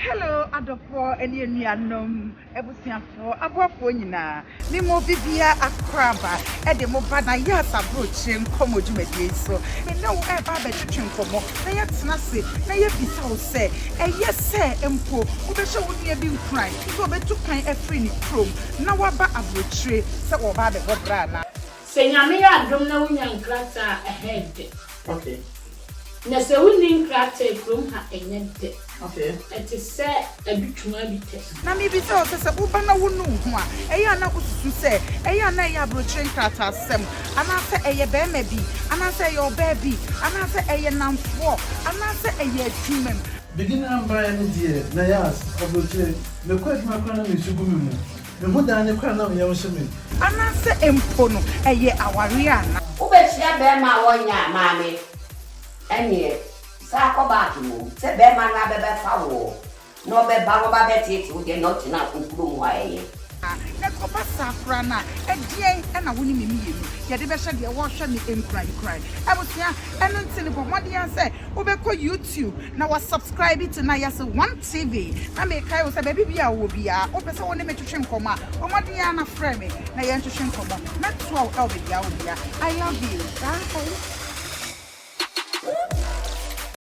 Hello, adɔfoɔ ne anuanom, abusuafoɔ, aboafoɔ nyinaa. Me mo bibia akoraba de mo ba na yɛ asaburokyire nkɔmɔ dwumadie yi so. Me ne wo ɛreba abɛtwetwe nkɔmɔ na yɛtena ase na yɛbisa wo sɛ ɛyɛ sɛ mpo wobɛhyɛ wo nua bi nkuran te sɛ ɔbɛtu kwan afiri ne kurom na waba aburokyire sɛ ɔreba abɛbɔ bra anaa. Sɛ Nyame yɛ adom na wonya nkrataa a, ɛha yɛ dɛ. Okay. Na sɛ wonni nkrataa a, kurom ha nyɛ dɛ. Okay. Ɛte sɛ adutwuma bi pɛ. Na mebisa wo sɛ, sɛ woba na wonni wo ho a, ɛyɛ a na wosusu sɛ ɛyɛ a na ɛyɛ aburokyire nkrataasɛm, anaasɛ ɛyɛ barima bi, anaasɛ ɛyɛ ɔbaa bi, anaasɛ ɛyɛ nnamfoɔ, anaasɛ ɛyɛ adwumam? Beginner mbaeɛ no deɛ na yas abrokyire me kɔ adwuma koraa na nsu gu me mu me ho dan ne koraa na ɔyaw hyɛ me. Anaasɛ mpo no ɛyɛ awareɛ anaa? Wobɛkyerɛ bɛɛma a wɔnyɛ a maame ɛneɛ saa kɔ back mmom sɛ bɛɛma no abɛbɛfa woɔ na ɔbɛba na ɔba bɛteete wo deɛ na ɔtena okurom hɔ a ɛyɛ. Ɛkɔba saa koraa no a, ɛdeɛn na wo ne me mmienu yɛde bɛhyɛ deɛ ɔrehwɛ me nkurankuran? Abusua, ɛno nti no bɔ mmɔden ara sɛ wobɛkɔ YouTube na woasubscribe to Nayase One TV. Na mekae wo sɛ baabi biara a wowɔ biara, wopɛ sɛ wo ne me twetwe nkɔmmɔ a, bɔ mmɔden ara na frɛ me na yɛntwetwe nkɔmmɔ. Mɛtoa wo wɔ baabiara wɔ biara. I love you. Bye.